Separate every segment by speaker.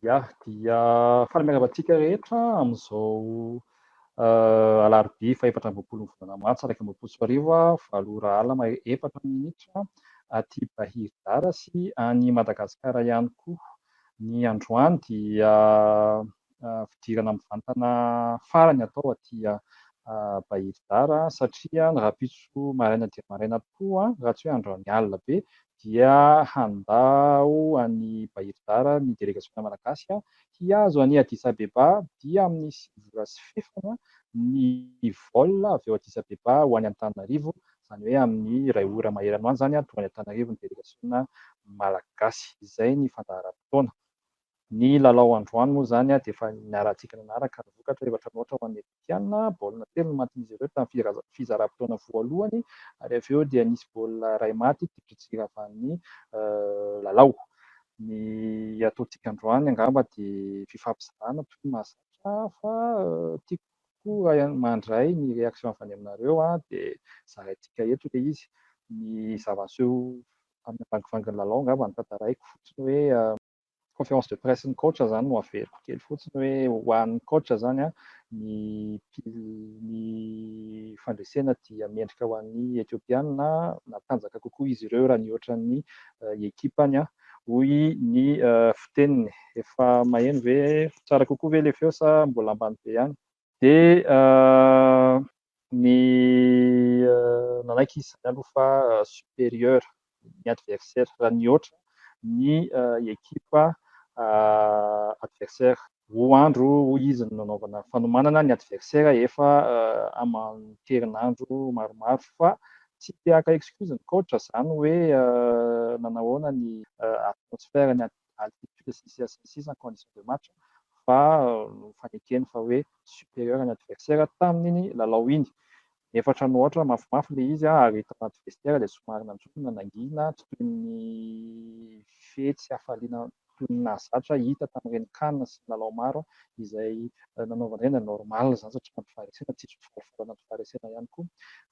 Speaker 1: Ya, dia faly miarahaba antsika rehetra amin'izao alarobia fahefatra amby roapolo ny volana martsa iraika amby roapolo sy roa arivo, valo ora alina efatra minitra aty Bahiridara sy any Madagasikara ihany koa. Ny androany dia fidirana mivantana farany atao aty Bahiridara satria ny rahampitso maraina dia maraina tokoa raha tsy hoe androany alina be dia handao an'i Bahir Dar ny delegasiona malagasy hihazo an'i Addis Abeba dia amin'ny sivy ora sy fefany ny vol avy ao Addis Abeba ho any Antananarivo, izany hoe amin'ny iray ora maheran'ho any izany tonga any Antananarivo ny delegasiona malagasy. Izay ny fandaharam-potoana. Ny lalao androany moa izany dia efa niarahantsika nanaraka ary vokatra efatra noatra ho an'ny Egyptiana, baolina telo no matin'izy ireo tamin'ny fizaram-potoana voalohany ary avy eo dia nisy baolina iray maty teo tsy hiravan'ny lalao. Ny ataontsika androany angamba dia fifampizarana tokoa no mahazatra fa tiako kokoa mandray ny réaction avy any aminareo dia zaraintsika eto ilay izy. Ny zava-niseho tamin'ny vangovangon'ny lalao angamba no tantaraiko fotsiny hoe. Conférence de presse ny coach zany no averiko kely fotsiny hoe ho an'ny coach zany an, ny ny fandresena dia mendrika ho an'ny Ethiopiana matanjaka kokoa izy ireo raha nihoatra ny ekipany an, hoy ny fiteniny. Efa maheno ve? Tsara kokoa ve le feo sa mbola ambany be ihany? Dia ny nanaiky izy izany aloha fa supérieur ny adversaire raha nihoatra ny ekipa adversaire. Roa andro hoy izy no nanaovana fanomanana, ny adversaire efa aman-kerinandro maromaro fa tsy te haka excuse ny coach izany hoe nanahoana ny atmosphère ny any. altitude sy ny sisa sy ny sisa ny condition de match fa fanekeny fa hoe superieur ny adversaire tamin'iny lalao iny nefa hatrany ohatra mafimafy ilay izy ary tao anaty vestiaire dia somary nanjombona nangina tsy toy ny fety sy hafaliana toy ny nahazatra hita tamin'ireny can sy ny lalao maro izay nanaovana ireny dia normal izany satria anaty faharesena tsy hisy ho falifaly anaty faharesena ihany koa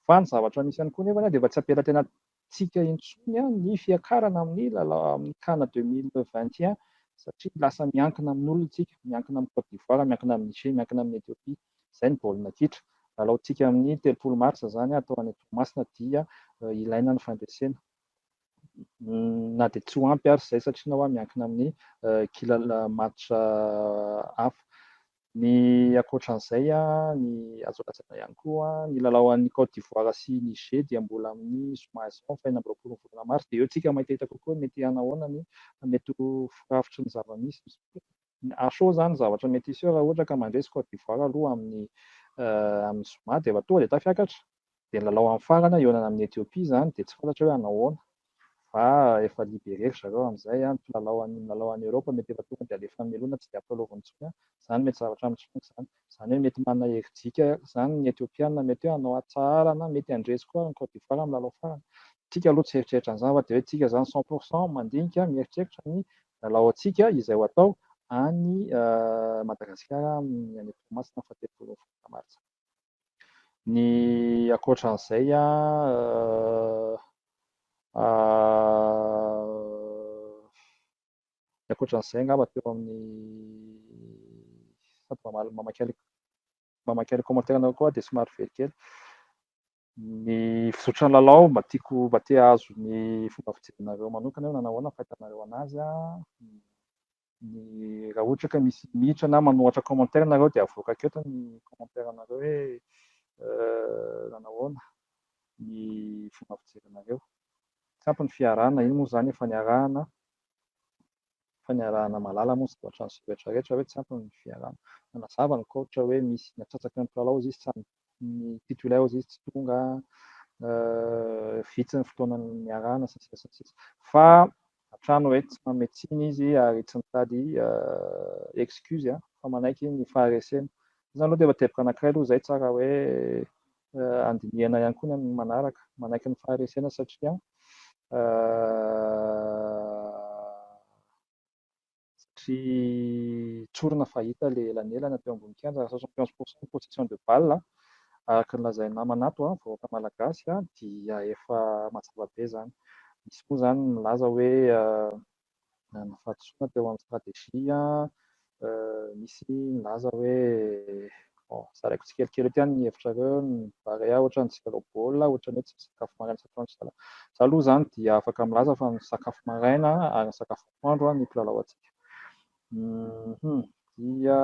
Speaker 1: fa ny zavatra misy ihany koa nefany dia mba tsy ampela tena tsika intsony ny fiakarana amin'ny lalao amin'ny can 2021 satria lasa miankina amin'olona tsika, miankina amin'i Côte d'Ivoire, miankina amin'i Niger, miankina amin'i Ethiopie, izay ny baolina kitra. Lalaontsika amin'ny telopolo marsa izany atao any Toamasina dia ilaina ny fandresena na dia tsy ho ampy ary izay satria na hoa miankina amin'ny kilala match hafa. Ny ankoatran'izay, ny azo lazaina ihany koa, ny lalao an'i Côte d'Ivoire sy Niger dia mbola amin'ny zoma izao, faha enina amby roapolon'ny volana marsa, dia eo isika mahitaita kokoa ny mety hanahoana ny mety ho firafitry ny zava-misy izao. Ary sao izany zavatra mety hiseo raha ohatra ka mandresy Côte d'Ivoire aloha amin'ny zoma dia efa tonga dia tafiakatra? Dia ny lalao mifarana hihaonana amin'i Ethiopie izany dia tsy fantatra hoe hanao ahoana fa efa liberer ry zareo amin'izay an, ny mpilalao an, ny milalao any Europe mety efa tonga dia alefa hamelona tsy dia ampilalaovina intsony an, izany mety zavatra mitsongo izany, izany hoe mety manana herijika izany ny Ethiopiana mety hoe hanao atsahara na mety handresy koa ny Cote d'Ivoire amin'ny lalao farany. Tsika aloha tsy hieritreritra an'izany fa dia hoe tsika izany cent pour cent mandinika mieritreritra ny lalao antsika izay ho atao any Madagasikara amin'ny any Toamasina faha telopolo ny volana martsa. Ny ankoatran'izay a ny ankoatran'izay angamba teo amin'ny sady mamaly mamakialy mamakialy commentaire anao koa dia somary very kely ny fizotry ny lalao mba tiako mba te hahazo ny fomba fijerinareo manokana eo na nahoana ny fahitanareo anazy a ny raha ohatra ka misy mitra na manohatra commentaire nareo dia avoakako eto ny commentaire nareo hoe nanahoana ny fomba fijery nareo tsy ampy ny fiarahana iny moa zany efa niarahana efa niarahana malala moa zany ohatran'izay rehetra rehetra hoe tsy ampy ny fiarahana nanazava ny coach hoe misy natsatsaky ny mpilalao izy tsy ny titulaires izy tsy tonga, vitsy ny fotoana niarahana sy ny sisa sy ny sisa. Fa hatrany hoe tsy manome tsiny izy ary tsy mitady excuse fa manaiky ny faharesena. Izany aloha dia efa teboka anankiray aloha izay tsara hoe handinihana ihany koa ny amin'ny manaraka. Manaiky ny faharesena satria Tsy tsorina fa hita ilay elanelana teo ambony kianja raha soixante et onze pour cent ny possession de balle araka ny lazain'ny namana ato a, vahoaka malagasy a, dia efa mazava be izany. Misy moa izany ny milaza hoe nanana fahadisoana teo amin'ny stratégie, misy milaza hoe, bon, zaraiko tsikelikely eto ihany ny hevitrareo, ny Barea ohatran'ny tsy lalao baolina, ohatran'ny hoe tsy misakafo maraina isan-taona ry zalahy. Izaho aloha izany dia afaka milaza fa misakafo maraina ary misakafo. andro ny mpilalao antsika. Hum dia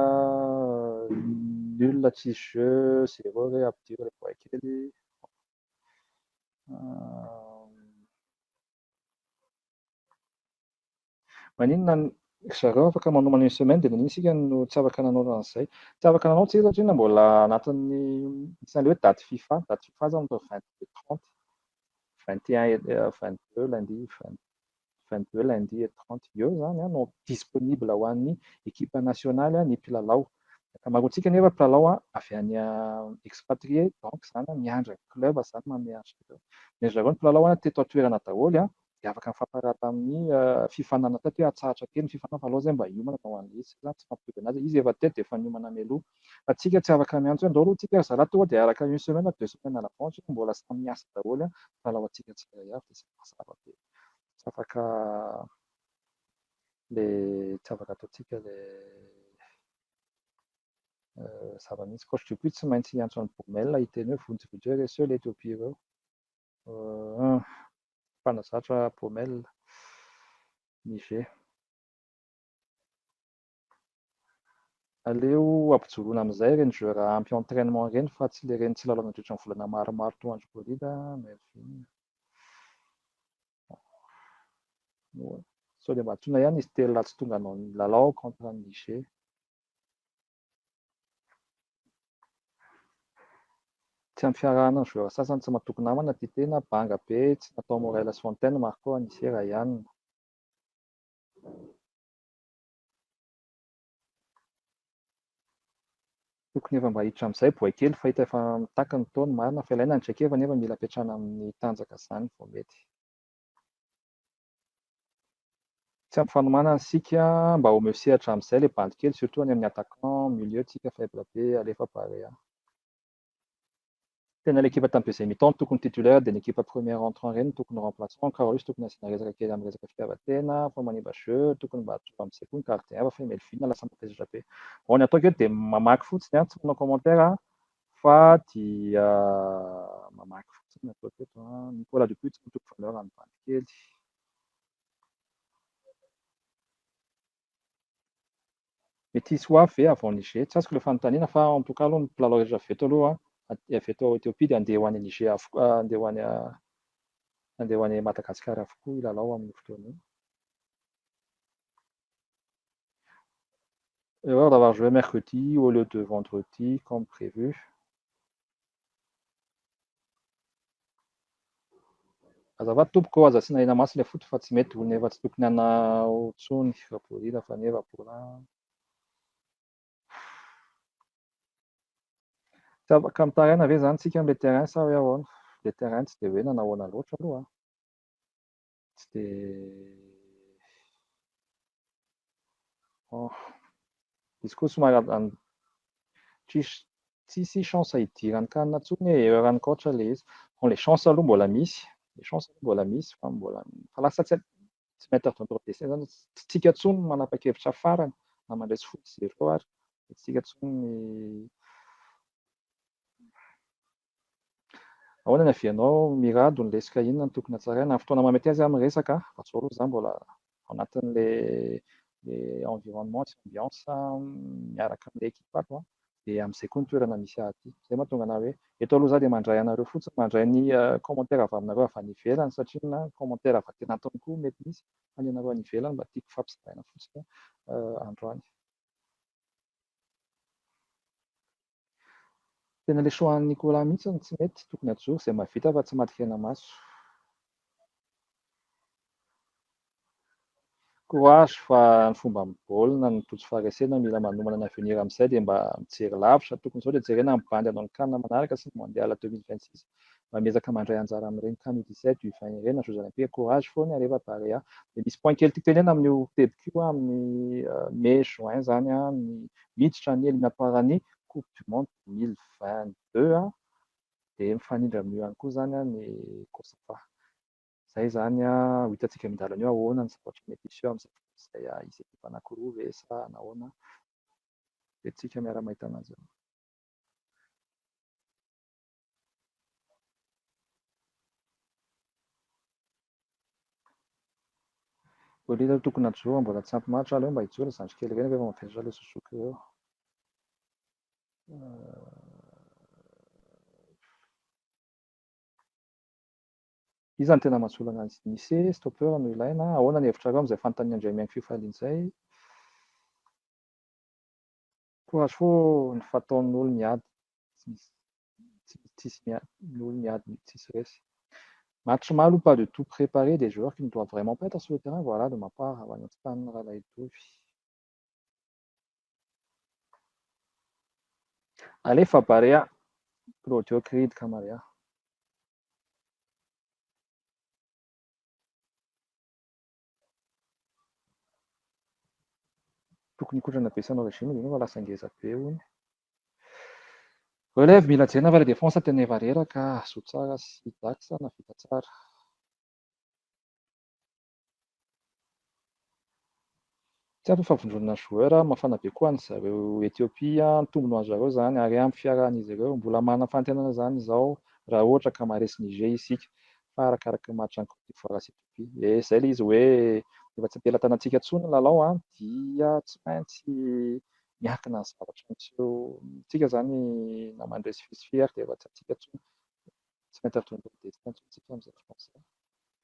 Speaker 1: nul tsisy jeux zero re ampidir le boay kely. Maninona ny ry zareo afaka manomana une semaine dia maninona isika no tsy afaka nanao an'izay. Tsy afaka nanao tsika satria mbola anatin'ny misy an'ilay hoe date fifa, date fifa zany atao vingt deux trente, vingt et un et vingt deux lundi, vingt vingt deux lundi et trente eo izany no disponible ho an'ny ekipa nasionaly ny mpilalao. Ny ankamaroantsika anefa mpilalao avy any expatrie donc izany miandry ny club izany manome azy ireo. Dia ry zareo ny mpilalao teto an-toerana daholo dia afaka nifampiraha tamin'ny fifaninanana teto hoe atsahatra kely ny fifaninana fa aleo izay mba hiomana atao an'ilay izy. Izay izany tsy mampitovy an'azy. Izy efa teto dia efa niomana mialoha. Fa tsika tsy afaka miantso hoe andao aloha tsika ry zalahy tonga dia araka une semaine na deux semaines à l'avance mbola samy miasa daholo ny mpilalaontsika tsirairay avy dia izay mazava be. tsy afaka le tsy afaka ataontsika le zava-misy coach de but tsy maintsy hiantso an'i Baumel hiteny hoe vonjy vita hoe reseo ilay Ethiopia ireo mpanazatra Baumel ny jeu Aleo ampijoroana amin'izay ireny joueur ampy entrainement ireny fa tsy le reny tsy lalao nandritra ny volana maromaro toa andry Bolida, Mervyn. Moa sao dia mba antsoina ihany izy telo laha tsy tonga hanao ny lalao contre an'i Niger. Tsy ampy fiarahana ny joueur sasany tsy matoky namana tia tena, banga be tsy natao Morel sy Fontaine, Marco, Anise, Ryan. Tokony efa mba hiditra amin'izay boay kely fa hita efa mitaky ny taona, marina fa ilaina ny traikefa nefa mila ampiantrana amin'ny tanjaka izany vao mety. Tsy ampy fanomanana isika mba omeo sehatra amin'izay ilay bandy kely surtout any amin'ny attaquant, milieu tsika faible be, alefa Barea. Tena ilay ekipa tamin'ny deuxième mi-temps no tokony titulaire dia ny ekipa premier entrant ireny no tokony remplaçant, Carlos tokony asiana resaka kely amin'ny resaka fitiavan-tena fa manimba jeu, tokony mba atsofoka amin'izay koa ny gardien hafa fa i Melvin lasa matezitra be. Bon ny ataoko eto dia mamaky fotsiny an, tsy manao commentaire an, fa dia mamaky fotsiny ny ataoko eto an, Nicolas Dupuis tsy mitoko valeur any bandy kely. Mety hisy ho avy ve avy ao Niger? Tsy azoko ilay fanontaniana fa en tout cas aloha ny mpilalao rehetra avy eto aloha avy eto Ethiopie dia handeha ho any Niger avokoa handeha ho any handeha ho any Madagascar avokoa hilalao amin'io fotoana io. Erreur d'avoir joué mercredi au lieu de vendredi comme prévu. Azafady tompoko ô, aza asiana hena masy ilay foot fa tsy mety hono efa tsy tokony hanao intsony rabourira fa anie rabourra an. Tsy afaka mitaraina ve zany tsika amin'ilay terrain sa hoe ahoana? Ilay terrain tsy dia hoe nanao ahoana loatra aloha an. Tsy dia oh. Izy koa somary an- tsisy tsisy chance hidirany kanina intsony hoe erreur an'i coach ilay izy. Bon, ilay chance aloha mbola misy, ilay chance aloha mbola misy fa mbola fa lasa tsy tsy maître de notre destin izany, tsy tsika intsony no manapa-kevitra farany na mandresy foot zero ary, tsy tsika intsony ny Ahoana ny avy anao Mirado ny leska inona no tokony hatsaraina? Amin'ny fotoana mahamety azy aho miresaka fa zao aloha za mbola ao anatin'le le environnement sy ambiance miaraka amle ekipako an! de amzay koa ny toerana misy ahy aty! zay mahatonga anahy hoe eto aloha za de mandray anareo fotsiny mandray ny commentaire avy aminareo avy any ivelany satria ny commentaire avy aty anatiny koa mety misy fa ny anareo any ivelany mba tiako fampizaraina fotsiny androany. Tena le choix an'i Nicolas mihitsy no tsy mety, tokony hajoro izay mahavita fa tsy maty hena maso. Courage fa ny fomba amin'ny baolina no tojo faharesena, mila manomana ny avenir amin'izay dia mba mijery lavitra, tokony izao dia jerena ny bandy hanao ny can manaraka sy ny mondial deux mille vingt six. mba miezaka mandray anjara amin'ireny can u dix-sept du vingt ireny na Jeux olympiques courage foana Areva Barea dia misy point kely tiako tenenina amin'io tebiko io amin'ny mai juin izany ny miditra ny eliminatoire ny coupe du monde deux mille vingt-deux an dia mifanindra amin'io ihany koa izany ny cosafa izay izany ho hitantsika eo an-dalana eo ahoana ny zavatra mety hiseo amin'izay izay hisy ekipa anankiroa ve sa nahoana dia tsika miara-mahita an'azy eo Olona tokony hajoro mbola tsy ampy maritra aleo mba hijoro zandry kely ireny rehefa maverina ilay suzuki ireo. Iza no tena mahatsolo an'azy nisy stoppeur no ilaina ahoana ny hevitrareo amin'izay fanontanian'i Andriamiaingo fifaliana izay? Toa soa ny fataon ny olo miady tsy misy tsy misy tsisy miady ny olo miady tsisy resy match mal ou pas de tout prepare des joueurs qui ne doivent vraiment pas etre sur le terrain voila de ma part avy any Antsipanana Ralaidovy. Alefa Barea Claudio Creed Camaria. Tokony hikotrana be sanao regime de nova lasa ngeza be hono. Relève mila jerena fa le défense tena eva reraka zo tsara sy dax na vita tsara. Tsy ampy ny favondronana joueur, mafana be koa ny zareo Ethiopie, ny tombony ho an zareo zany ary ampy fiarahan izy ireo, mbola manana fanantenana zany izao raha ohatra ka maharesy Niger isika fa arakaraky ny match any Cote d'Ivoire sy Ethiopie eh izay le izy hoe rehefa tsy am-pelatanantsika intsony ny lalao an dia tsy maintsy miankina ny zavatra miseho amintsika zany na mandresy fisifier dia efa tsy antsika intsony tsy maintsy avy tonga eo amin'ny destin intsony tsika amin'izay fotoana izay.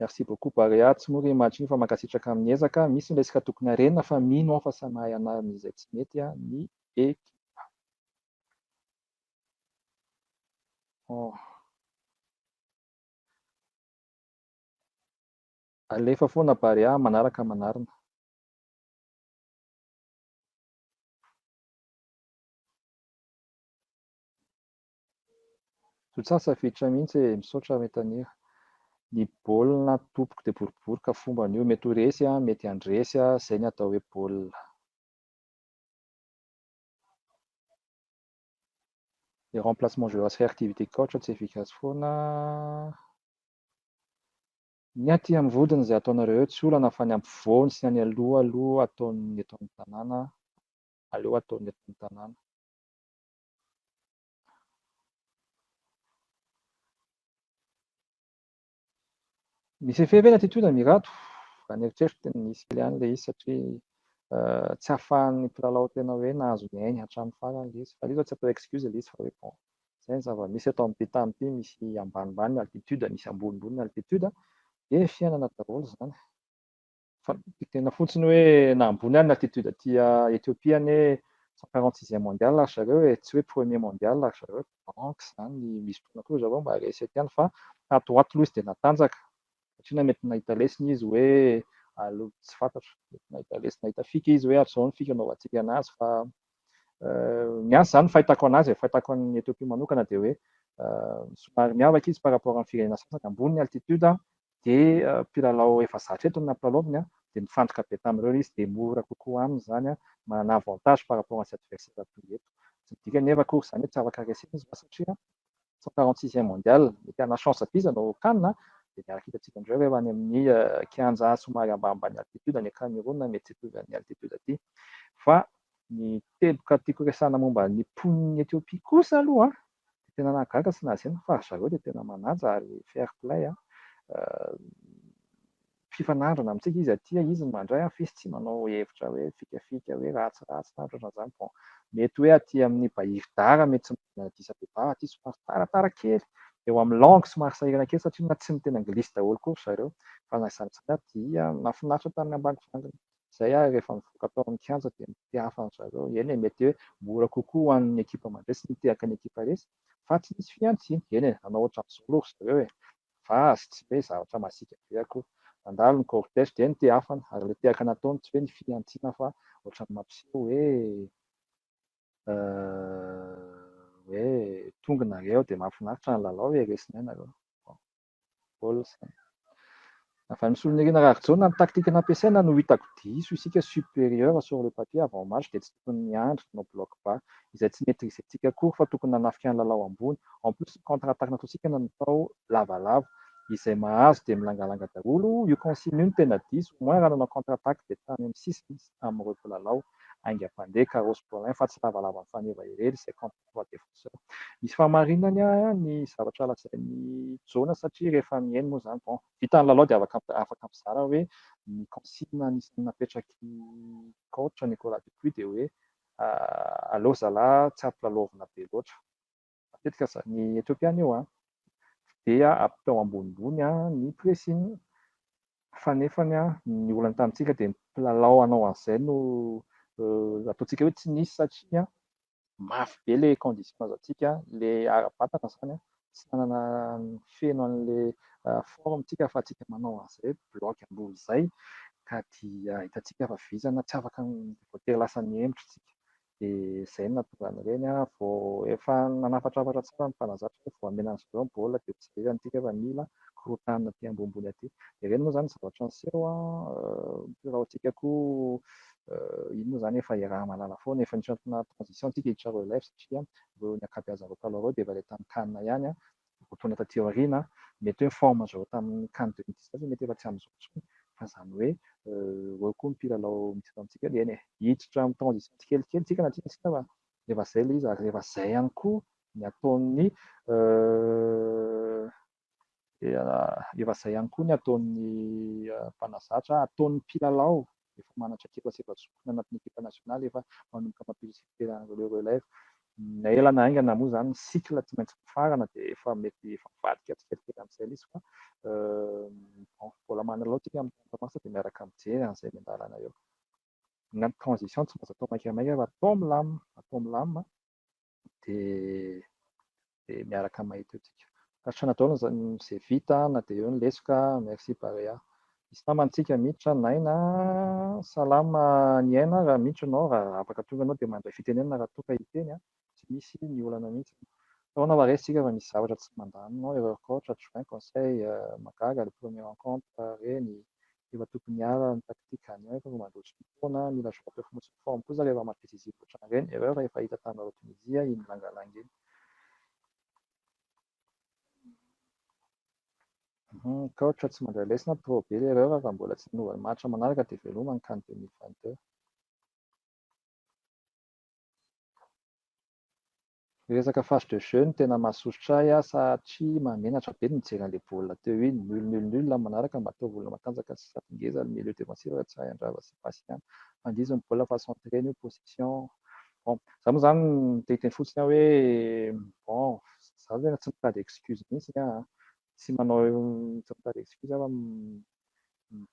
Speaker 1: Merci beaucoup Barea, tsy mora io match io fa mankasitraka amin'ny ezaka, misy ny resaka tokony harenina fa mino aho fa samy mahay hanarina izay tsy mety ny ekipa. Oh. Alefa foana Barea, manaraka manarina. Tsy ho tsasavitrra mihitsy e, misaotra Ray Tanira. Ny baolina tompoko dia boribory ka fombany io, mety ho resy an, mety handresy an, zay ny atao hoe baolina. Le remplacement joueurs réactivité coach tsy efficace foana Ny aty amin'ny vodiny izay ataonareo eo tsy olana fa ny ampovoany sy ny any aloha aloha ataon'ny eto amin'ny tanàna aleo ataon'ny eto amin'ny tanàna. Misy effet ve ny attitude amin'i Rado? Raha ny eritreriko dia nisy kely ihany ilay izy satria tsy ahafahan'ny mpilalao tena hoe nahazo ny ainy hatramin'ny farany ilay izy. Fa ilay izy izao tsy atao excuse ilay izy fa hoe bon, izay ny zava-misy eto amin'ny tany ity, misy ambanimbany ny altitude, misy ambonimbony ny altitude dia fiainana daholo izany. fa tena fontsiny hoe na ambony ary ny attitude aty Ethiopie anie cent quarante sixième mondial ry zareo e, tsy hoe premier mondial ry zareo e, donc zany misy fotoana koa ry zareo mba reset ihany fa tato ho ato aloha izy dia natanjaka, satria na mety nahita lesona izy hoe aleo tsy fantatro, mety nahita lesona, nahita fika izy hoe hatrizao ny fika anaovantsika anazy fa ny ahy zany fahitako anazy e, fahitako an'i Ethiopie manokana dia hoe somary miavaka izy par rapport amin'ny firenena sasany, ambony ny altitude dia mpilalao efa zatra eto no nampilalaoviny an, dia mifantoka be tamin'ireo izy dia mora kokoa aminy izany an, manana avantage par rapport antsy adversaire toy eto. Tsy midika anefa akory izany hoe tsy afaka resena izy fa satria cent quarante sixième mondial mety hanana chance be izy hanao can an, dia miaraka hitantsika indreo rehefa any amin'ny kianja somary ambanimbany altitude any Cameroun mety tsy hitovy an'ny altitude aty. Fa ny teboka tiako resahana momba ny mponin'i Ethiopie kosa aloha an, Dia tena nahagaga sy nahazena fa ry zareo dia tena manaja ary fair play an! Mpifanandrina amintsika izy aty, izy no mandray an! F'izy tsy manao hevitra hoe fikafika hoe ratsiratsy na ohatran'izany bon! Mety hoe aty amin'ny Bahiry Dara mety tsy manana Addis Abeba, aty somary taratara kely eo amin'ny langue somary sahirana kely satria na tsy miteny anglisy daholo koa ry zareo fa na izany izany aty an! Nahafinaritra tamin'ny ambangivanginy. Izay ary rehefa mivoaka tao amin'ny kianja dia mitehafa an-dry zareo. Eny e, mety hoe mora kokoa ho an'ny ekipa mandresy ny mitehaka ny ekipa resy fa tsy misy fihantsiana. Eny e, nanao ohatran'izao aloha ry zareo e, fa azy tsy hoe zavatra masiaka be akory. Nandalo ny cortège dia nitehafana, ary ilay tehaka nataony tsy hoe ny fihantsiana fa ohatran'ny mampiseho hoe hoe tonga nareo dia mahafinaritra ny lalao e, resinay nareo. Olson. Avy amin'i Solonirina Raharijona, ny taktika nampiasaina no hitako diso isika supérieur sur le papier avant match dia tsy tokony miandry no bloc bas izay tsy maitrisentsika akory fa tokony nanafika ny lalao ambony en plus ny contre attaque nataontsika natao lavalava izay mahazo dia milangalanga daholo io consigne io no tena diso au moins raha nanao contre attaque dia tany amin'ny sisiny sy tamin'ireo mpilalao haingam-pandeha Carros Paulin fa tsy lavalava mifaneva irery izay contre roi des forceurs. Misy fahamarinany an ny zavatra lazain'i Jona satria rehefa mihaino moa izany bon, vita ny lalao dia afaka afaka mizara hoe ny consigne anisan'ny napetrak'i coach Nicolas Dupuis dia hoe aleo zalah tsy ampilalaovina be loatra. Matetika za ny Ethiopiana io an dia atao ambonimbony an ny pressing fa nefany an ny olana tamintsika dia ny mpilalao hanao an'izay no ataontsika hoe tsy nisy satria an mafy be ilay conditions antsika, ilay ara-batana izany an, tsy nanana feno an'ilay forme tsika fa tsika manao an'izay hoe bloc am-boho izay ka dia hitantsika fa vizana tsy afaka voatery lasa nihemotra isika dia izay no nahatonga an'ireny an, vao efa nanafatrafatra tsara ny mpanazatra hoe vao hamena an'izy ireo ny baolina dia tsy zay izany tsika fa mila fikorontanana aty ambonimbony aty. Jerena moa izany ny zavatra niseho an, biraontsika koa iny moa izany efa iaraha-mahalala foana, efa nisy antony naha transition antsika i Charue Life satria ireo ny ankabeazan'ireo mpanao ireo dia efa ilay tamin'ny can ihany an, roa taona taty aoriana an, mety hoe ny forme azo avy tamin'ny can deux mille dix neuf mety efa tsy amin'izao intsony fa izany hoe ireo koa ny mpilalao misy eto amintsika eo dia eny e, hiditra amin'ny transition tsikelikely tsika na tiana na tsia fa rehefa izay ilay izy ary rehefa izay ihany koa ny ataon'ny rehefa izay ihany koa ny ataon'ny mpanazatra, ataon'ny mpilalao efa manantra ekipa sy efa zokiny anatin'ny ekipa nasionaly efa manomboka mampirisika fitoerana ireo relèves. Na ela na haingana moa izany ny cycle tsy maintsy mifarana dia efa mety efa mivadika tsikelikely amin'izay ilay izy fa bon, mbola manalao isika amin'ny trente mars dia miaraka mijery an'izay miandalana eo. na ny transition tsy maintsy atao maikamaika fa atao milamina, atao milamina dia dia miaraka mahita eo tsika. Tasitrana daholo izay vita na dia eo ny lesoka, merci Barea. Misy namana antsika miditra, Naina, salama ny aina, raha miditra ianao, raha afaka tonga ianao dia mandray fitenenana raha toa ka hiteny an. tsy misy ny olana mihitsy. Tao na maresy tsika fa misy zavatra tsy mandamina ao erreur coach, adjoint, conseil, mahagaga le premier rencontre reny efa tokony hiala ny tactique gagnant efa vao mandroso ny fotoana, mila joueur fonotsiny forme kosa rehefa match décisif otran'ireny, erreur efa hita taminareo Tunisia iny langalanga iny. Coach tsy mandray lesona trop be le erreur raha mbola tsy hanova ny match manaraka de veloma ny can deux mille vingt deux. Resaka face de jeu no tena mahasosotra ahy ah satria mahamenatra be ny mijery an'ilay baolina teo iny, nul nul nul ny manaraka mba ataovy olona matanjaka sy sady ngeza ny milieu défensif raha tsy hahay handrava sy passe ihany fa ndizy ny baolina fa centrer ny position bon za moa zany te hiteny fotsiny ah hoe bon za tena tsy mitady excuse mintsiny ah tsy manao tsy mitady excuse ah fa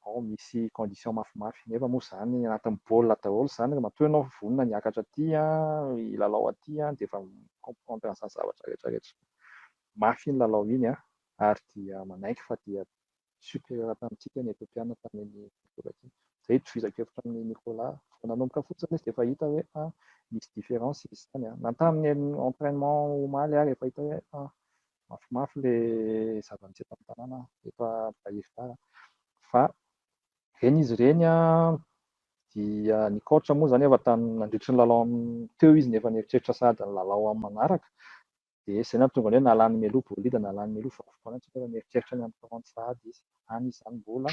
Speaker 1: Vao misy condition mafimafy. Nefa moa izany anatin'ny baolina daholo izany raha matoa ianao vonona ny hiakatra aty hilalao aty dia efa mi-comprendre an'izany zavatra rehetra rehetra. Mafy iny lalao iny an, ary dia manaiky fa dia supérieur tamintsika ny Ethiopiana tamin'iny volana iny. Izay itovizako hevitra amin'i Nicolas. Vao nanomboka fotsiny izy dia efa hita hoe misy différence izy izany. Na tamin'ny entrainement omaly ary efa hita hoe Mafimafy le zava-nisy eto amin'ny tanàna eto Ambohidahy fa ireny izy ireny an, dia nikaotra moa izany efa tamin'ny nandritry ny lalao teo izy no efa nieritreritra sahady ny lalao amin'ny manaraka dia izay no nahatonga ny hoe na lany mialoha bolida na lany mialoha vakoka foana tsy efa nieritreritra ny amin'ny kaonty sahady izy. any izany mbola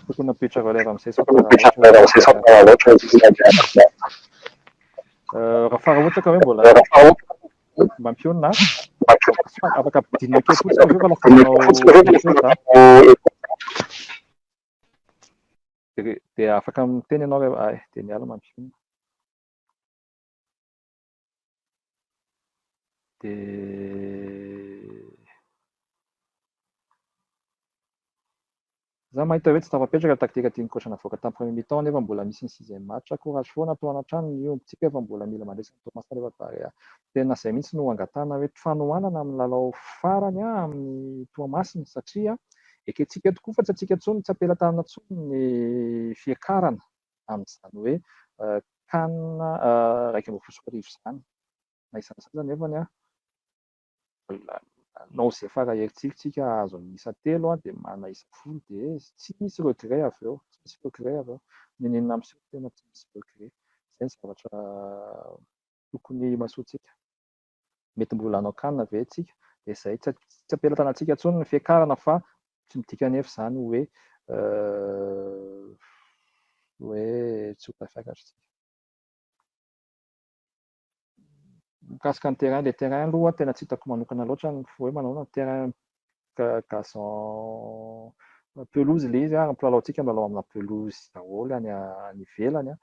Speaker 1: tokony apetraka lera amizay sao tara loatra raha fara ohatra ka hoe mbola mampionona afaka ampidinina kely fotsiny avy eo fa lasa manao Dia afaka miteny ianao rehefa ay dia miala mampihomehy. Dia Za mahita hoe tsy tafapetraka taktika tian'i coach navoaka tamin'ny premier mi-temps nefa mbola misy ny sixième match, courage foana atoana hatrany ny ombintsika fa mbola mila mandresy an'i Toamasina rehefa Barea. Tena izay mihitsy no angatahana hoe fanohanana amin'ny lalao farany amin'ny Toamasina satria Ekentsika tokoa fa tsy antsika intsony, tsy am-pelatanana intsony ny fiakarana amin'izany hoe can iraika ambin'ny folo sy roa arivo izany. Na iza na iza aza anefany, nanao izay fara herintsika isika hahazo an'ny isa telo dia manana isa folo dia tsy misy regret avy eo, tsy misy regret avy eo. N'inon'inona miseho tena tsy misy regret. Izay ny zavatra tokony himasoantsika. mety mbola hanao kanina ve tsika dia zay tsy tsy ampela tanatsika tsony ny fiakarana fa tsy midika nefa izany hoe hoe tsy ho tafiakatra tsika mikasika ny terrain le terrain aloha tena tsy hitako manokana loatra ny hoe manao ny terrain gazon pelouse le izy ary ny mpilalao tsika milalao amina pelouse daholo any any ivelany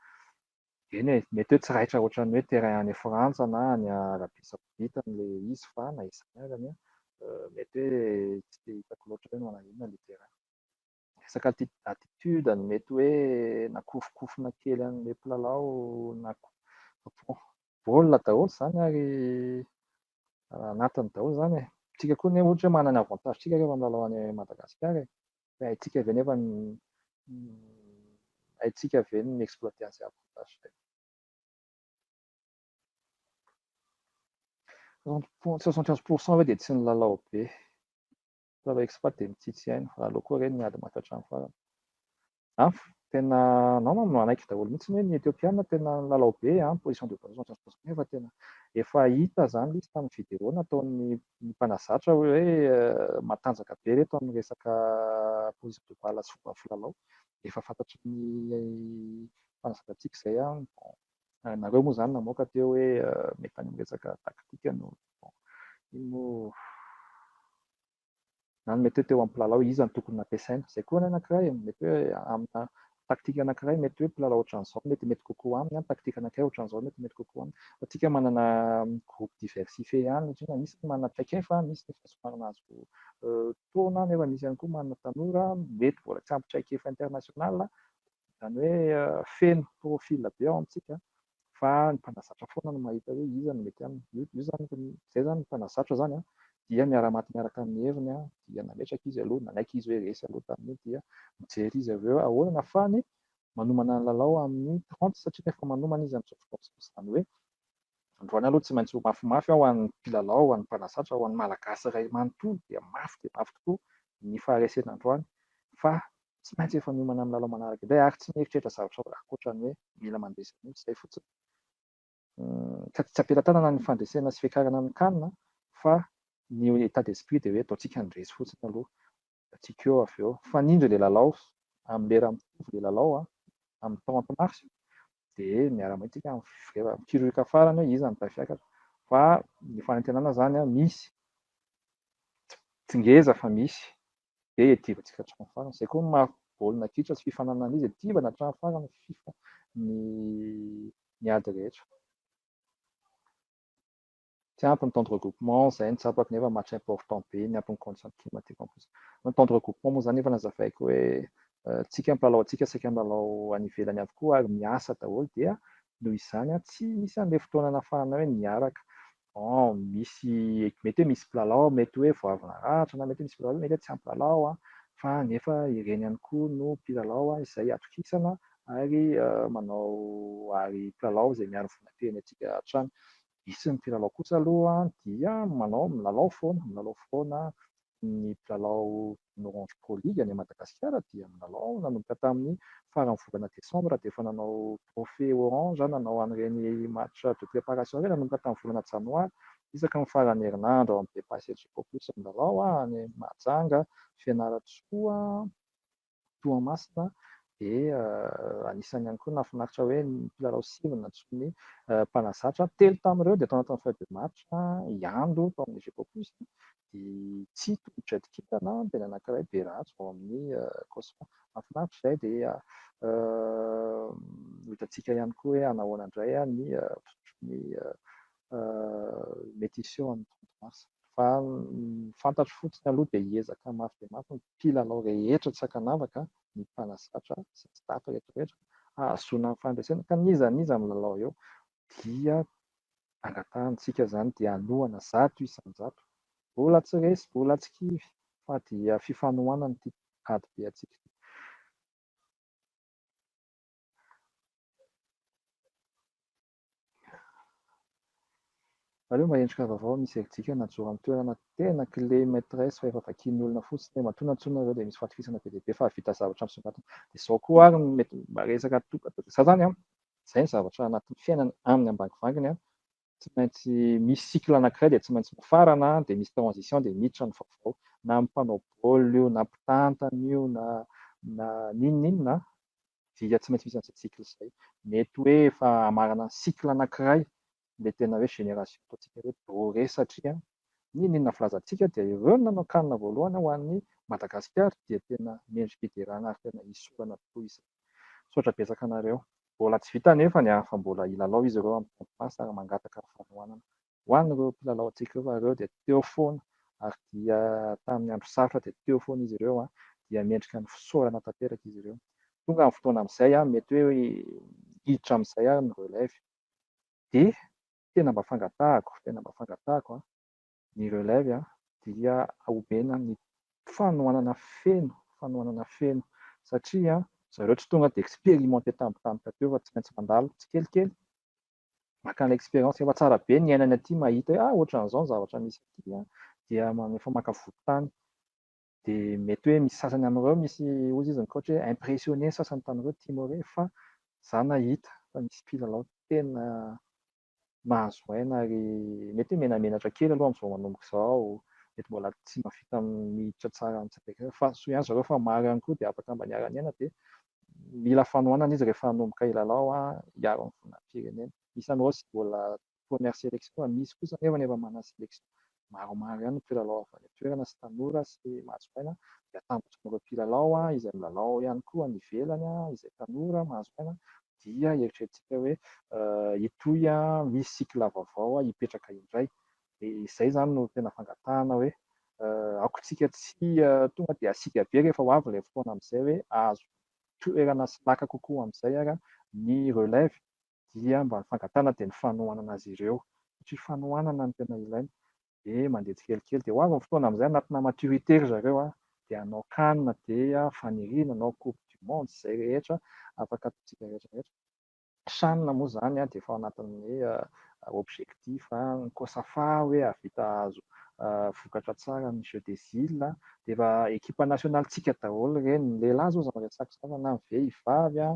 Speaker 1: Eny e, mety hoe tsy raitra ohatran'ny hoe terrain any Frantsa na any Arabia Saodita an'ilay izy fa na izany azany an, mety hoe tsy dia hitako loatra hoe manao inona ilay terrain. Resaka attitude no mety hoe nakofonkofona kely an'ilay mpilalao na koa baolina daholo izany ary anatiny daholo izany e. Tsika koa anie ohatra hoe manana avantage tsika rehefa milalao any Madagasikara e. Haintsika ve nefa ny haintsika ve ny mi-exploiter an'izay avantage izay? Soixante quinze pour cent ve dia tsy nilalao be? Mpitondra expat dia mitsitsy aina, raha aleo koa re ny ady mafy hatramin'ny farany. An, tena anao manko no hanaiky daholo mihitsy hoe ny Ethiopiana tena nilalao be an, position de base soixante quinze pour cent nefa tena efa hita izany izy tamin'ny video nataon'ny ny mpanazatra hoe matanjaka be ireto amin'ny resaka prise de balle sy fomba filalao. Efa fantatry ny mpanazatrantsika izay an! Bon, nareo moa izany namoaka teo hoe mety any amin'ny resaka tactique no bon, iny moa. na ny mety hoe teo amin'ny mpilalao iza no tokony nampiasaina. Izay koa ny anankiray, mety hoe amina taktika anankiray mety hoe mpilalao ohatran'izao no metimety kokoa aminy, ny taktika anankiray ohatran'izao no metimety kokoa aminy. Fa isika manana groupe diversifie ihany satria na misy ny manana traikefa, misy ny efa somary nahazo taona nefa misy ihany koa manana tanora mety mbola tsy ampy traikefa international. Izany hoe feno profil be ao amintsika fa ny mpanazatra foana no mahita hoe iza no mety aminy. Io io zany izay izany ny mpanazatra izany an dia miara-maty miaraka amin'ny heviny an dia nametraka izy aloha nanaiky izy hoe resy aloha tamin'io dia mijery izy avy eo hoe ahoana no ahafahany manomana ny lalao amin'ny trente satria rehefa manomana izy amin'ny trente izany hoe Androany aloha tsy maintsy ho mafimafy ho an'ny mpilalao, ho an'ny mpanazatra, ho an'ny Malagasy iray manontolo dia mafy dia mafy tokoa ny faharesena androany fa tsy maintsy efa miomana amin'ny lalao manaraka indray ary tsy mieritreritra zavatra ankoatra ny hoe mila mandresy an'io, izay fotsiny. Ka tsy am-pelatanana ny fandresena sy fiakarana ny can fa ny état d'esprit dia hoe ataontsika ny resy fotsiny aloha antsika eo avy eo. Mifanindry ilay lalao, amin'ny lera mitovy ilay lalao, amin'ny trente mars, dia miara-mahay antsika rehefa mikiroka farany hoe iza no tay fiakatra. Fa ny fanantenana izany misy, tsy ngeza fa misy, dia hiadivantsika hatramin'ny farany. Izay koa ny maha baolina kitra sy fifaninanana izy, hiadivana hatramin'ny farany ny fifa, ny ady rehetra. Tsy ampy ny temps de regroupement, izay no tsapako nefa match important be ny ampy ny conditions climatiques en plus. Ny temps de regroupement moa izany efa nazavaiko hoe tsika mpilalao antsika saika milalao any ivelany avokoa ary miasa daholo dia noho izany tsy misy an'ilay fotoana anafahana hoe niaraka bon misy mety hoe misy mpilalao mety hoe vao avy naratra na mety hoe misy mpilalao mety hoe tsy ampy lalao fa nefa ireny ihany koa no mpilalao izay atokisana ary manao ary mpilalao izay miaro ny vonam-pirenentsika hatrany Hisy ny mpilalao kosa aloha dia manao milalao foana, milalao foana ny mpilalao ny Orange Pro League any Madagasikara dia milalao nanomboka tamin'ny faran'ny volana desambra dia efa nanao trophée orange, nanao an'ireny match de préparation ireny nanomboka tamin'ny volana janoary isaky ny faran'ny herinandro ao amin'ny Bepacedgeco plus milalao any Mahajanga, Fianarantsoa. Toamasina dia anisan'ny ihany koa nahafinaritra hoe ny mpilalao sivy nantsoin'ny mpanazatra. Telo tamin'ireo dia tao anatin'ny feuille de match, i Ando tao amin'ny Gecopus, i Tsito Jet Kintana, dia ny anankiray Berajo ao amin'ny Cosma. Mahafinaritra izay dia ho hitantsika ihany koa hoe hanahoana indray ny fizotry ny mety hiseho amin'ny trente mars. Fa ny fantatro fotsiny aloha dia hiezaka mafy dia mafy ny mpilalao rehetra tsy ankanavaka, ny mpanazatra sy ny staff rehetra rehetra hahazoana ny fandresena ka n'iza n'iza milalao eo dia angatahantsika izany dia hanohana zato isan-jato. Mbola tsy resy, mbola tsy kivy fa dia fifanohanana ity ady be antsika ity. Aleo mba endrika vaovao misy erijika na joro amin'ny toerana tena kle maîtresse fa efa vakian'ny olona fotsiny dia matoa na tsoa nareo dia misy fatokisana be dia be fa hahavita zavatra misongadina dia zao koa ary no mety mba resaka atoko atao dia za zany an zay ny zavatra anatin'ny fiainana aminy ambangivangy an tsy maintsy misy cycle anakiray dia tsy maintsy mifarana an dia misy transition dia miditra ny vaovao na amin'ny mpanao baolina io na mpitantana io na na n'inon'inona an dia tsy maintsy misy an'izay cycle izay. Mety hoe efa hamarana ny cycle anankiray ilay tena hoe génération ataontsika hoe doré satria n'inon'inona filazantsika dia ireo no nanao canne voalohany ho an'i Madagasikara dia tena mendri-piderana ary tena hisorana tokoa izay. Misaotra betsaka anareo. Mbola tsy vita anefa ny an fa mbola hilalao izy ireo amin'ny Temp Pass ary mangataka ny fanohanana Ho an'ireo mpilalaontsika ireo, ireo dia teo foana ary dia tamin'ny andro sarotra dia teo foana izy ireo dia mendrika ny fisaorana tanteraka izy ireo. Tonga ny fotoana amin'izay, mety hoe hiditra amin'izay ary ny relève dia tena mba fangatahako, tena mba fangatahako ny relève dia omena ny fanohanana feno, fanohanana feno satria zareo tsy tonga dia expérimenté tampotampoka teo fa tsy maintsy mandalo tsikelikely makana expérience efa tsara be ny iainany aty mahita hoe ah ohatran'izao ny zavatra misy aty an, dia efa maka vodintany, dia mety hoe misy sasany amin'ireo misy hozy izy ny coach hoe impressionner ny sasany tamin'ireo timore fa za nahita fa nisy mpilalao tena mahazo aina ary mety hoe menamenatra kely aloha amin'izao manomboka izao, mety mbola tsy mahavita miditra tsara amin'izay fa soa ihany zareo fa maro ihany koa dia afaka mba niara-niaina dia Mila fanohanana izy rehefa hanomboka hilalao hiaro ny voninahi-pirenena. Isan'ny Rose mbola première sélection fa misy kosa anefa ny efa manana sélection. Maromaro ihany ny mpilalao avy any an-toerana sy tanora sy mahazo aina dia atambotron'ireo mpilalao izay milalao ihany koa any ivelany izay tanora mahazo aina dia eritreretintsika hoe hitohy misy cycle vaovao hipetraka indray Dia izay izany no tena fangatahana hoe aokantsika tsy tonga dia asiaka be rehefa ho avy ilay fotoana amin'izay hoe ahazo toerana sy laka kokoa amin'izay ary ny relève dia mba ny fangatahana dia ny fanohanana azy ireo satria fanohanana no tena ilaina dia mandeha tsikelikely dia ho avy ny fotoana amin'izay anatina maturité ry zareo dia hanao can dia faniriana hanao coupe du monde izay rehetra afaka ataontsika rehetra rehetra. Chan moa izany dia efa ao anatin'ny objectif ny Cosafa hoe hahavita hahazo vokatra tsara ny jeux des îles dia efa ekipa nationale tsika daholo ireny, ny lehilahy izao aza miresaka izany fa na ny vehivavy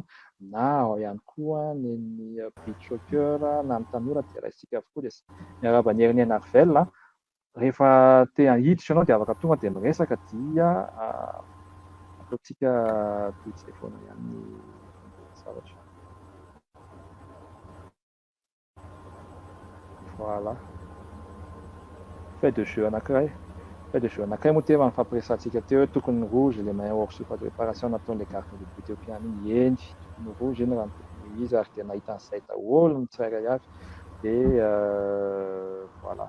Speaker 1: na ao ihany koa ny ny beach soccer na ny tanora dia raisitsika avokoa dia miarahaba an'i Hernie Narvel a. rehefa te hahiditra ianao dia afaka tonga dia miresaka dia ataontsika toy izay foana ihany ny zavatra. Voilà. Fait de jeu anankiray. Fait de jeu anankiray moa teva nifampiresahantsika teo hoe tokony rouge ilay maillot hors surface de réparation nataon'ilay gardien de but Etiopiana iny. Eny, tokony rouge iny raha ny tokony izy ary dia nahita an'izay daholo ny tsirairay avy. Dia euh, voilà.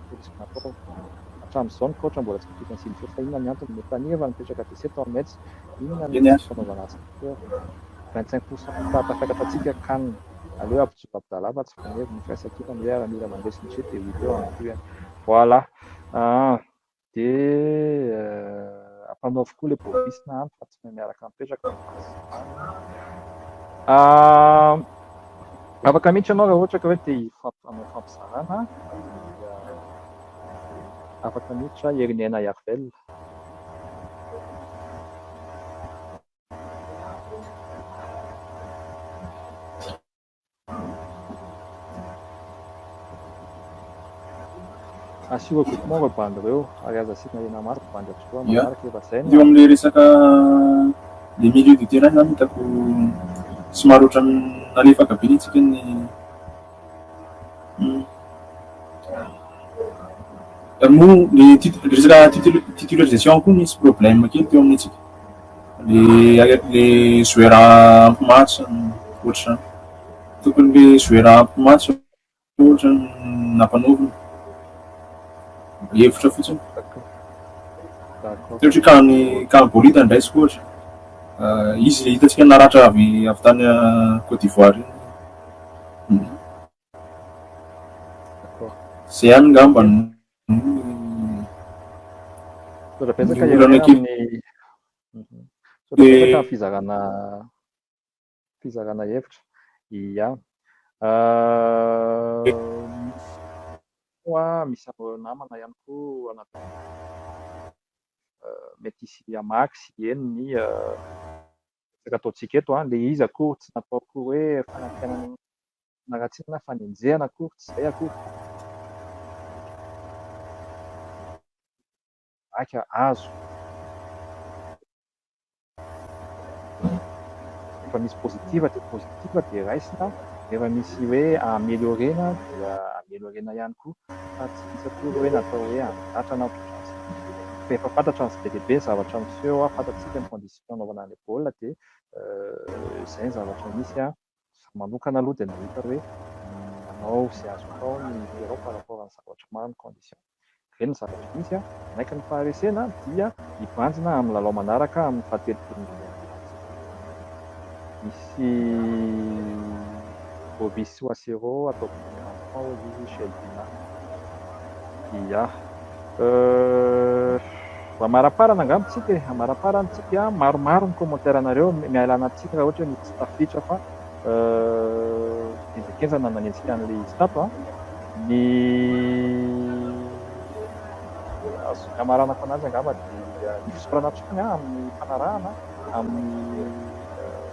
Speaker 1: Fotsy Natao. Hatramin'izao ny kaoitra mbola tsy voafidy an'i Silifofa. Inona ny antony? Netania efa nipetraka Tessé tao Metz. Inona ny fomba fanaovana azy Peter? Vingt cinq pour cent hectares tafakatra antsika Can. Aleo ampijoro Abdallah fa tsy vonevy ny firaisankina hoe Aramila mandresy ny jeu de huit heures en QM. Voilà. Aa. Dia ampanaovy koa le bovis na an fa tsy. no miaraka mipetraka ny fahazavana. Ah, afaka mihitsy ianao raha ohatra ka hoe te hifampifameo fampizarana dia afaka mihitsy hoe herin'ny aina hiary velona. Asio regroupement reo bandy reo ary aza asiana hena maro fa bandy avokoa manaraka efa zay no. Eo
Speaker 2: amle
Speaker 1: resaka
Speaker 2: le milieu de terrain zany hitako somary otrany nalefaka be nitsika ny moa le resaka titularisation koa nisy problème kely teo amintsika. Le le zoera ampy maty zany ohatr'izany tokony le zoera ampy maty ohatra nampanaovina hevitra fotsiny satria ka ny ka ny bolida andraisiko ohatra euh, izy hitantsika naratra avy avy tany euh, Côte d'Ivoire iny hmm. zay ihany ngamba
Speaker 1: Misaotra betsaka Ny olana Irene amin'ny misaotra betsaka amin'ny fizarana fizarana hevitra. Ia. Ah, koa misy an'ireo namana ihany koa ana ah, mety hisy hamaky sy hieno ny ah, resaka ataontsika eto an, le izy akory tsy nataoko hoe fanantenana Ratsy na fanenjehana akory tsy izay akory. Vaika azo. Rehefa misy positive dia positive dia raisina, rehefa misy hoe ameliorer-na dia ameliorer-na ihany koa fa tsy misy akory hoe natao hoe handratra na ohatr'izany satria fa efa fantatra ny tsy be dia be ny zavatra miseho, fantatsika ny condition anaovana an'ilay baolina dia izay ny zavatra misy an! Za manokana aloha dia nahita hoe manao izay azo atao ny Iran par rapport an'ny zavatra maro ny condition. Ve ny zavatra misy an, manaiky ny faharesena dia hibanjina amin'ny lalao manaraka amin'ny fahatelopolo ny lalao manaraka izay. Misy Bobby Soisereau ataoko miarahaba anao ry Shelby Naka. Yah. Euh, amaraparana angamba tsika e, amaraparana tsika, maromaro ny commentaire nareo, mialana tsika raha ohatra hoe tsy tafiditra fa euh, enjakenjana nanenjika an'le izy tato a, ny azoko hamaranako ananjy angamba dia ny fisaorana hatrany a amin'ny fanarahana, amin'ny euh,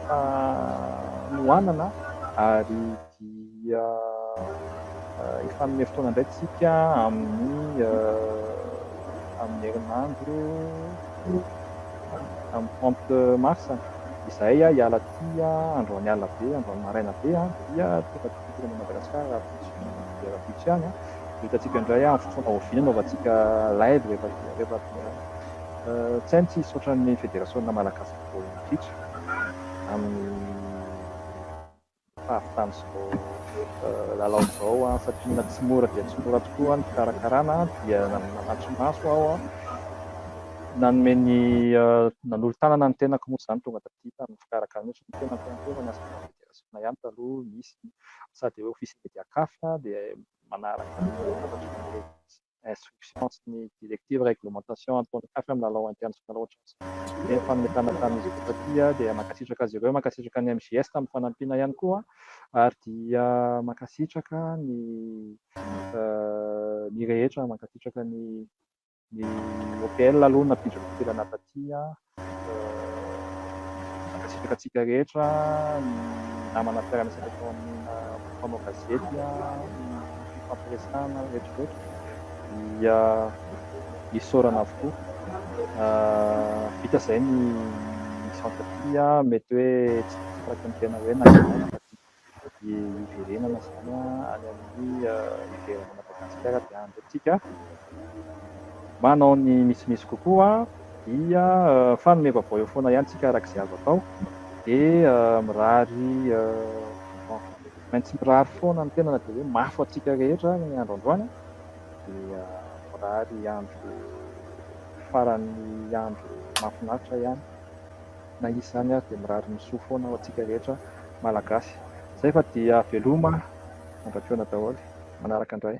Speaker 1: fanohanana ary dia efa hanome fotoana indray isika amin'ny amin'ny herinandro amin'ny trente mars izahay hiala aty androany alina be androany maraina be dia tonga aty fitondrana Madagascar rahampitso rahampitso ihany a dia hitantsika indray amin'ny fotoana oviana hanaovantsika live rehefa rehefa tsy hay tsy hisy ohatran'ny federasiona malagasy baolina kitra amin'ny faritany izao lalao izao an, satria na tsy mora dia tsy mora tokoa ny fikarakarana dia nanatri-maso aho an, nanome ny nanolo-tanana ny tenako moa izany tonga taty tamin'ny fikarakarana io satria tena mpiantohana ny asa fanabeazana ihany taloha misy sady hoe office media caf dia manaraka ny hafatra rehetra. instruction sy ny directive, réglementation ataon'ny CAF amin'ny lalao international ohatran'izao. Izay ny fametrahana tamin'izy ireo taty dia mankasitraka azy ireo, mankasitraka ny MJS tamin'ny fanampiana ihany koa ary dia mankasitraka ny ny rehetra, mankasitraka ny ny OPL aloha nampiditra fivelana taty Mankasitraka antsika rehetra ny namana mpiara-miasa teto amin'ny mpanao gazety nifampiresahana rehetrarehetra dia isaorana avokoa. Vita izay ny misaotra aty. Mety hoe tsy tafakatra ny tena hoe naninona no fadiana. dia hiverenana izany any amin'ny ivelan'i Madagasikara dia andro antsika manao ny misimisy kokoa dia fanome vaovao eo foana ihany tsika araka izay azo atao dia mirary maintsy mirary foana ny tena na dia hoe mafy antsika rehetra ary ny andro androany dia mirary andro faran'ny andro mahafinaritra ihany na izy izany ary dia mirary ny soa foana ho antsika rehetra Malagasy. Zay fa dia veloma andratrona daholo. Manaraka indray.